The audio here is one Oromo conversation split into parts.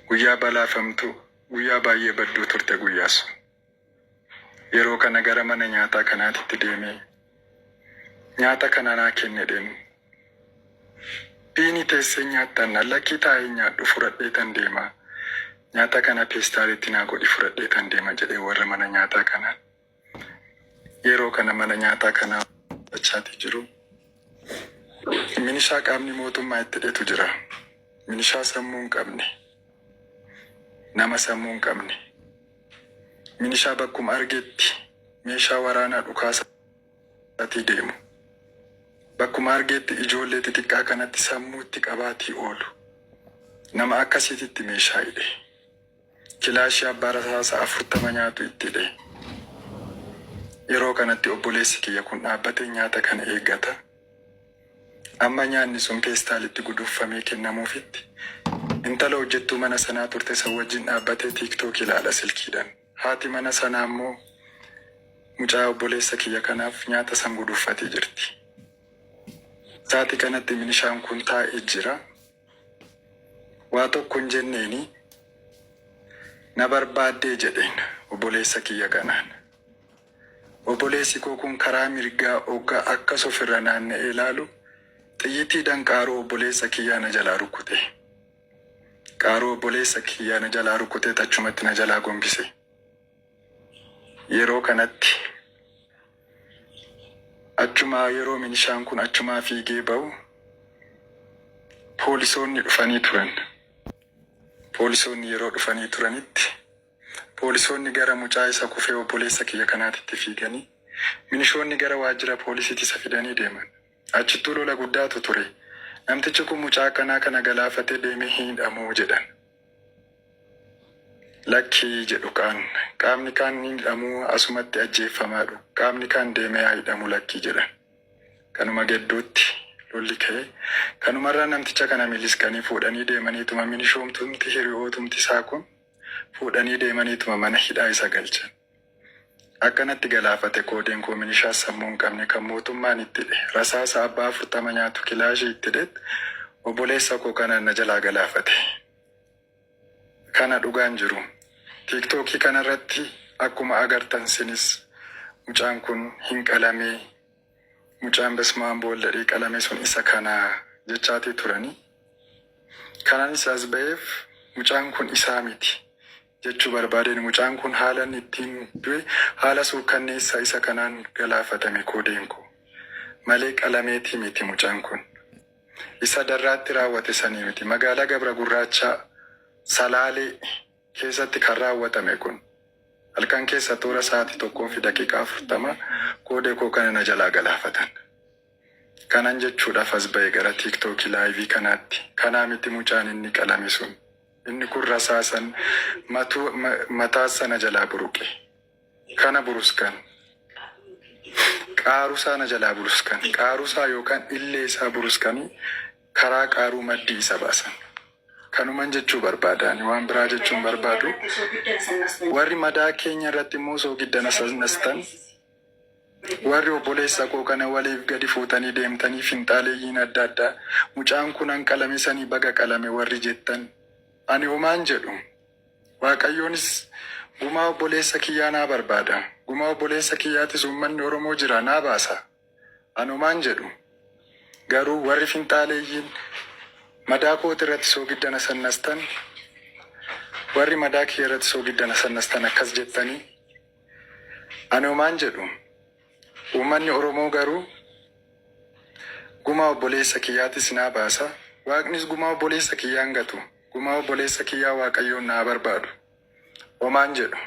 Guyyaa balaafamtuu, guyyaa baay'ee badduu turte guyyaa sun. Yeroo kana gara mana nyaataa kanaatitti deemee nyaata kana naa kennedheen biini teessee nyaattan na lakkii taa'ee nyaadhu fudhadhee tan deema nyaata kana peestaalitti naa godhi fudhadhee tan deema jedhee warra mana nyaataa kanaan. Yeroo kana mana nyaataa kanaa mul'achaatii jiru. Minishaa qaamni mootummaa itti dhetu jira. Minishaa sammuu hin qabne. Nama sammuu hin qabne. Minishaa bakkuma argetti meeshaa waraanaa dhukaasaatii deemu. Bakkuma argeetti ijoollee xixiqqaa kanatti sammuutti qabaatii oolu. Nama akkasiititti meeshaa hidhe. Kilaashii abbaa rasaasa 40 nyaatu itti hidhe. Yeroo kanatti obboleessi kiyya kun dhaabbatee nyaata kana eeggata. Amma nyaanni sun peestaalitti guduunfamee kennamuufitti. Intala hojjettuu mana sanaa turte san wajjin dhaabbatee TikTok ilaala silkiidhan. Haati mana sanaa ammoo mucaa obboleessa kiyya kanaaf nyaata san guduunfatee jirti. Saati kanatti minishaan kun taa'e jira. Waa tokko hin jenneeni. Na barbaaddee jedheen obboleessa kiyya kanaan. Obboleessi koo kun karaa mirgaa ogga akkas ofirra naanna'ee ilaalu xiyyitii dan qaaruu obboleessa kiyyaa na jalaa rukkute. Qaaruu obboleessa kiyyaa na jalaa rukkutee tachumatti na jalaa gombise. Yeroo kanatti Achumaa yeroo milishaan kun achumaa fiigee ba'u poolisoonni dhufanii turan. Poolisoonni yeroo dhufanii turanitti poolisoonni gara mucaa isa kufee obboleessa kiyya kanaatitti fiiganii milishoonni gara waajjira poolisiitti isa fidanii deeman. Achittuu lola guddaatu ture. Namtichi kun mucaa akkanaa kana galaafatee deemee hin hidhamuu? jedhan. Lakki, jedhu kaan. Qaamni kaan hin hidhamu, asumatti ajjeeffamaadhu. Qaamni kaan deemee haa hidhamu lakki, jedhan. Kanuma gedduutti lolli ka'e. Kanumarraa namticha kana miliskanii fuudhanii deemaniituma minishoomtumti hiri'ootumti isaa kun fuudhanii deemaniituma mana hidhaa isa galchan. Akka natti galaafate koodeen koo minishaa sammuu hin qabne kan mootummaan itti hidhe rasaasa abbaa afurtama nyaatu kilaashii itti hidhet obboleessa koo kanaan na jalaa galaafate. Kana dhugaan jiru. Tiiktookii kanarratti akkuma agartan sinis mucaan kun hin qalamee mucaan besmaam boolladhee qalamee sun isa kana jechaatii turanii. Kan anis as ba'eef mucaan kun isaa miti. jechuu barbaadeen mucaan kun haalan ittiin du'e haala suukkanneessa isa kanaan galaafatame koodeen koo. Malee qalameetii miti mucan kun. Isa darraatti raawwate sanii miti. Magaalaa Gabra Gurraachaa, Salaalee, keessatti kan raawwatame kun. Halkan keessa toora sa'aati 1:40 koode koo kana na jalaa galaafatan. Kanan jechuudhaf as bahe gara tiktoki live kanaatti kanaa miti mucaan inni qalame sun inni kun rasaasan mataa sana jalaa buruqe kana buruskan qaarusaa na jalaa buruskan qaarusaa yookan illee isaa buruskani karaa qaaruu maddii isa baasan kanuman jechuu barbaada ani waan biraa jechuun barbaadu warri madaa keenya irratti immoo soogidda nasastan Warri obboleessa koo kana waliif gadi fuutanii deemtanii finxaaleyyiin adda addaa mucaan kunan qalame sanii baga qalame warri jettan ani homaan jedhu waaqayyoonis gumaa obboleessa kiyyaa naa barbaada gumaa obboleessa kiyyaatis uummanni oromoo jira naa baasa an homaan jedhu garuu warri finxaaleyyiin madaa kooti irratti soogidda na sannastan warri madaa kiyya irratti soogidda na sannastan akkas jettanii Ani homaan jedhu. Uummanni Oromoo garuu gumaa obboleessa kiyyaatis naa baasa, Waaqnis gumaa obboleessa kiyyaa hin gatu, gumaa obboleessa kiyyaa Waaqayyoon naa barbaadu. Homaan jedhu.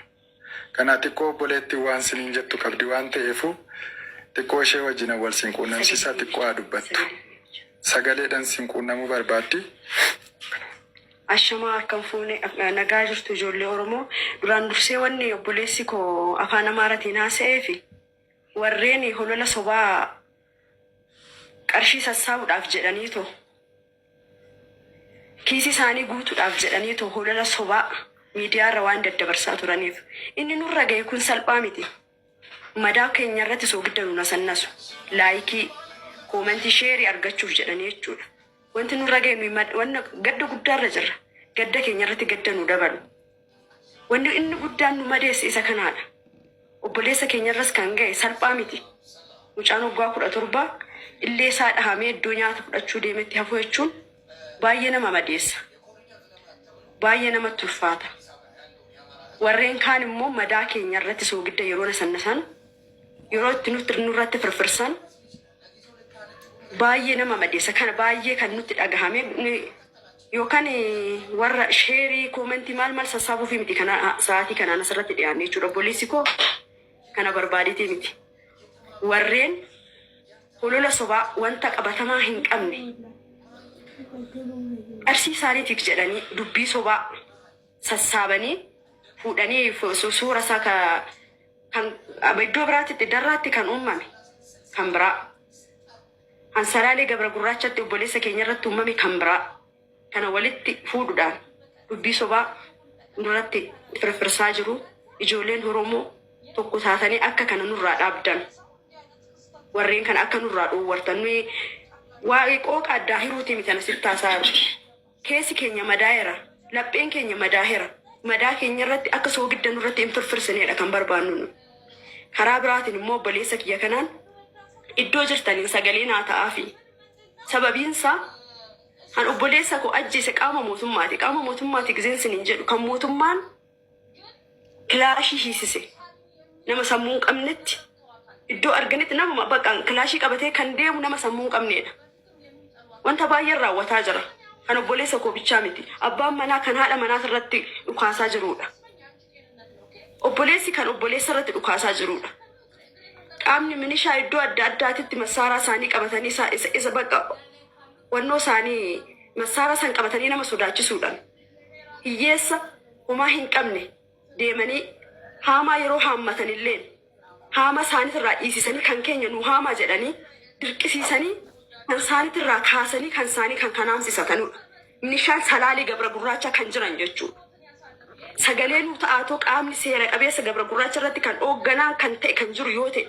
Kanaa xiqqoo obboleettiin waan siniin jettu qabdi waan ta'eefuu xiqqoo ishee wajjinan wal siin quunnamsiisaa xiqqoo haa dubbattu. Sagaleedhan siin quunnamuu barbaaddi. Ashamaa akkam fuune nagaa jirtu ijoollee oromoo duraan dursee wanni obboleessi koo afaan amaaratiin haasa'ee fi warreen holola sobaa qarshii sassaabuudhaaf jedhanii too kiisii isaanii guutuudhaaf jedhanii too holola sobaa miidiyaarra waan daddabarsaa turaniif inni nurra ga'e kun salphaa miti. Madaa keenya irratti soogidda nu nasannasu. Laayikii, koomentii, sheerii argachuuf jedhanii jechuudha. Wanti nurra ga'e nuyi mad- wanna gadda guddaarra jirra. Gadda keenya irratti gadda nu dabalu. Wanni inni guddaan nu madeesse isa kanaadha. Obboleessa keenya irras kan ga'e salphaa miti. Mucaan waggaa kudha torbaa illee isaa dhahamee iddoo nyaata fudhachuu deemetti hafuu jechuun Baay'ee nama madeessa. Baay'ee namatti ulfaata. Warreen kaan immoo madaa keenya irratti soogidda yeroo nasannasan, yeroo itti nutti nurratti firfirsan baay'ee nama madeessa. Kana baay'ee kan nutti dhagahame ni- yookaan eh, warra sheerii, koomentii maal maal sassaabuufi miti kana sa'aatii kanaan asirratti dhiyaanne jechuudha. Obboleessi koo kana barbaaditee miti. Warreen holola sobaa wanta qabatamaa hin qabne qarshii isaaniitiif jedhanii dubbii sobaa sassaabanii fuudhanii fu- su- suura isaa ka- kan iddoo biraatti darraatti kan uumame kan biraa kan salaalee gabra gurraachatti obboleessa keenya irratti uumame kan biraa kana walitti fuudhudhaan dubbii sobaa nurratti firfirsaa jiru ijoolleen horomoo tokko taatanii akka kana nurraa dhaabdan warreen kana akka nurraa dhoowwartan nuyi waa'ee qooqa addaa hiruutii miti kana sitti haasaa jiru keessi keenya madaa'eera lapheen keenya madaa'eera madaa keenya irratti akka soogidda nurratti hin firfirsineedha kan barbaannu nu karaa biraatiin immoo obboleessa kiyya kanaan iddoo jirtaniin sagalee naa ta'aafi sababiinsaa Kan obboleessa koo ajjeese qaama mootummaati. Qaama mootummaati gizeen sin hin jedhu. Kan mootummaan kilaashii hiisise nama sammuu hin qabnetti iddoo arganitti nama baqaan kilaashii qabatee kan deemu nama sammuu hin qabneedha. Wanta baay'een raawwataa jira. Kan obboleessa koo bichaa miti. Abbaan manaa kan haadha manaas irratti dhukaasaa jiruudha. Obboleessi kan obboleessa irratti dhukaasaa jiruudha. Qaamni minishaa iddoo adda addaatitti massaaraa isaanii qabatanii isaa- isa isa bakka wannoo isaanii massaaraa san qabatanii nama sodaachisuudhaan hiyyeessa homaa hin qabne deemanii haamaa yeroo haammatan illee Haama isaanitirraa dhiisisanii kan keenya nuu haamaa jedhanii dirqisiisanii kan isaanitirraa kaasanii kan isaanii kan kan haamsisatanudha. Milishaan salaalee gabra gurraachaa kan jiran jechuudha. Sagalee nuu ta'aatoo qaamni seera qabeessa gabra gurraacha irratti kan hoogganaa kan ta'e kan jiru yoo ta'e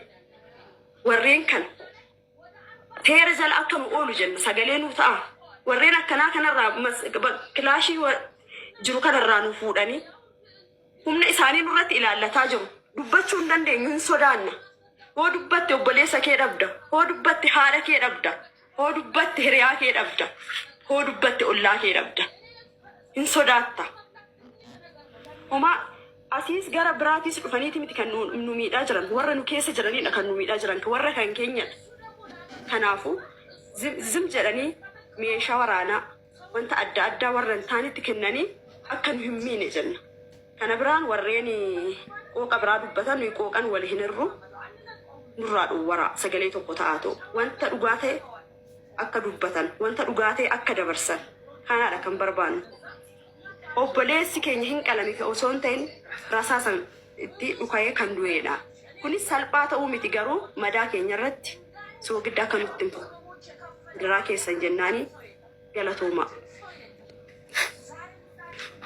warreen kana seera jala akka nu oolu jenna sagalee nuu ta'a. Warreen akkanaa kanarraa mas- ba- kilaashii wa- jiru kanarraa nu fuudhanii Humna isaanii nurratti ilaallataa jiru. Dubbachuu hin dandeenyu, hin sodaanna. Hoo dubbatte obboleessa kee dhabda. Hoo dubbatte haadha kee dhabda. Hoo dubbatte hiriyaa kee dhabda. Hoo dubbatte ollaa kee dhabda. Hin sodaatta. Homaa asiis gara biraatiis dhufaniiti miti kan nu nu miidhaa jiran. Warra nu keessa jiranidha kan nu miidhaa jiran. Warra kan keenyadha. Kanaafuu zim zim jedhanii meeshaa waraanaa wanta adda addaa warra hin taanetti kennanii akka nu hin miine jenna. Kana biraan warreen qooqa biraa dubbatan nuyi qooqan wal hin hirru nurraa dhowwaraa sagalee tokko ta'aatu wanta dhugaa ta'e akka dubbatan wanta dhugaa ta'e akka dabarsan kanaadha kan barbaannu. Obboleessi keenya hin qalamika osoo hin ta'in rasaasan itti dhuka'ee kan du'eedha. Kunis salphaa ta'uu miti garuu madaa keenya irratti soogidda akka nutti hin fufne adaraa keessan jennaani galatoomaa.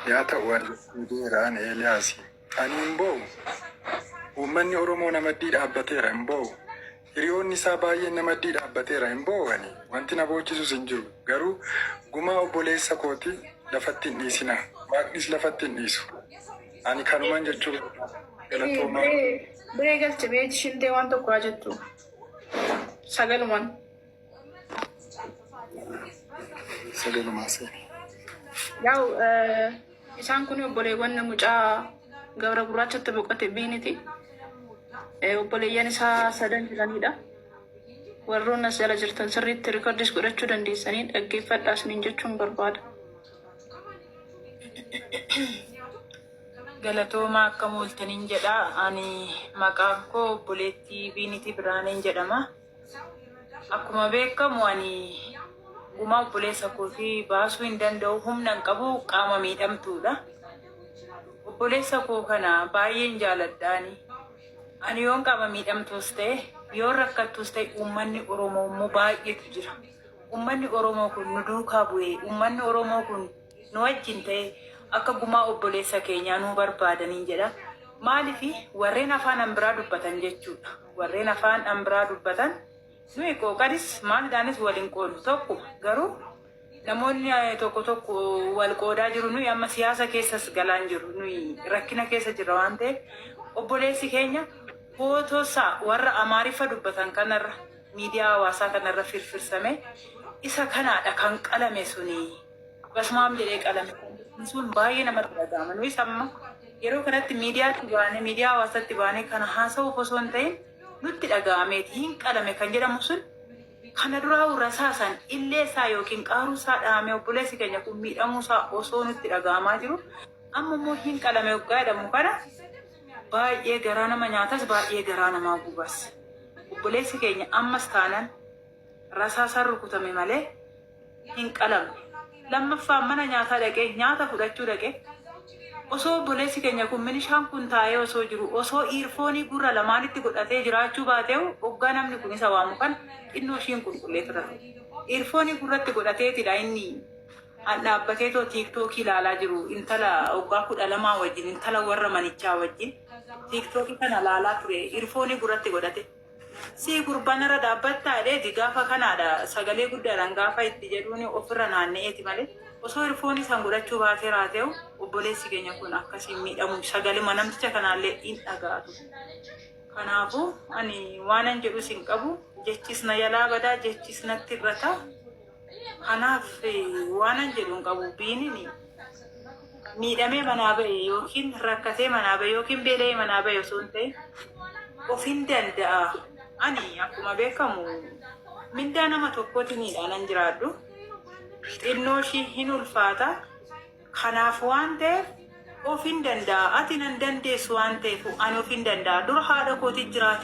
Yaa ta'u ani fiigeera ani Eeliyaasi. Ani hin boo'u. Uummanni Oromoo na maddii dhaabbateera hin boo'u. Hiriyoonni isaa baay'een na maddii dhaabbateera, hin boo'ani, wanti na boochisus hin jiru. Garuu gumaa obboleessa kooti lafatti hin dhiisinaa, Waaqnis lafatti hin dhiisu. Ani kanuman jechuu barbaade. Galatoomaa. Biree galche mee shintee waan tokko haa jettu sagaluman. Yaa'u isaan kun obboleewwan mucaa gabra gurraachatti boqote biiniti. Obboleeyyan isaa sadan jiranidha. Warroon as jala jirtan sirriitti riikordis godhachuu dandeessanii dhaggeeffadhaa isiniin jechuun barbaada. Galatooma akka mooltaniin jedha. Ani maqaan koo obboleettii Biinitii Birhaaneen jedhama. Akkuma beekamu ani gumaa obboleessa kootii baasuu hin danda'u humna hin qabu qaama miidhamtuudha. Obboleessa koo kana baay'een jaaladhaani. Ani yoon qaama miidhamtuus ta'e yoon rakkattuus ta'e uummanni Oromoo immoo baay'eetu jira. Uummanni Oromoo kun nu duukaa bu'ee uummanni Oromoo kun nu wajjin ta'e akka gumaa obboleessa keenyaa nu barbaadaniin jedha. Maaliif warreen afaan biraa dubbatan jechuudha. Warreen afaan an biraa dubbatan nuyi qooqadis maalidhaanis wal hin qoodnu tokko garuu namoonni tokko tokko wal qoodaa jiru nuyi amma siyaasa keessas galaan jiru nuyi rakkina keessa jirra waan ta'eef obboleessi keenya footoosaa warra amaariffa dubbatan kanarra miidiyaa hawaasaa kanarra firfirsame isa kanaadha kan qalame suni. Basumaam jedhee qalame kan sun baay'ee namatti dhaga'ama. Nuyis amma yeroo kanatti miidiyaatti baanee miidiyaa hawaasaatti baanee kana haasa'uuf osoo hin ta'in nutti dhaga'ameeti hin qalame kan jedhamu sun kana duraa rasaasan illee isaa yookiin qaaruu isaa dhahamee obboleessi keenya kun miidhamuu isaa osoo nutti dhaga'amaa jiru amma immoo hin qalame waggaa jedhamu kana baay'ee garaa nama nyaatas baay'ee garaa namaa gubas. Obboleessi keenya ammas taanan rasaasaan rukutame malee hin qalamu. Lammaffaa mana nyaataa dhaqee nyaata fudhachuu dhaqee osoo obboleessi keenya kun minishaan kun taa'ee osoo jiru osoo iirfoonii gurra lamaanitti godhatee jiraachuu baateehu oggaa namni kun isa waamu kan xinnoo ishii hin qulqulleeffata ture. Iirfoonii gurratti godhateetidha inni an dhaabbateetoo tiiktookii laalaa jiru intala oggaa kudha lamaa wajjin intala warra manichaa wajjin tiiktookii kana laalaa ture iirfoonii gurratti godhate. Sii gurbaa narra dhaabbattaa dheedi gaafa kanaadha sagalee guddaadhaan gaafa itti jedhuuni ofirra naanna'eeti malee osoo irfoonii san godhachuu baatee raateew obboleessi keenya kun akkas hin miidhamu sagalema namticha kanaallee hin dhaga'a ture kanaafu ani waanan jedhus hin qabu jechis na jalaa badaa jechis natti irrata Kanaaf waanan jedhu hin qabu biinin miidhamee manaa ba'e yookiin rakkatee manaa ba'e yookiin beela'ee manaa ba'e osoo hin ta'in ofiin danda'a. Ani akkuma beekamu mindaa nama tokkooti miidhaanan jiraadhu. Xinnoo ishii hin ulfaata. Kanaaf waan ta'eef ofiin danda'a. Ati nan dandeessu waan ta'eef ani ofiin danda'a. Dura haadha kootiin jiraatee.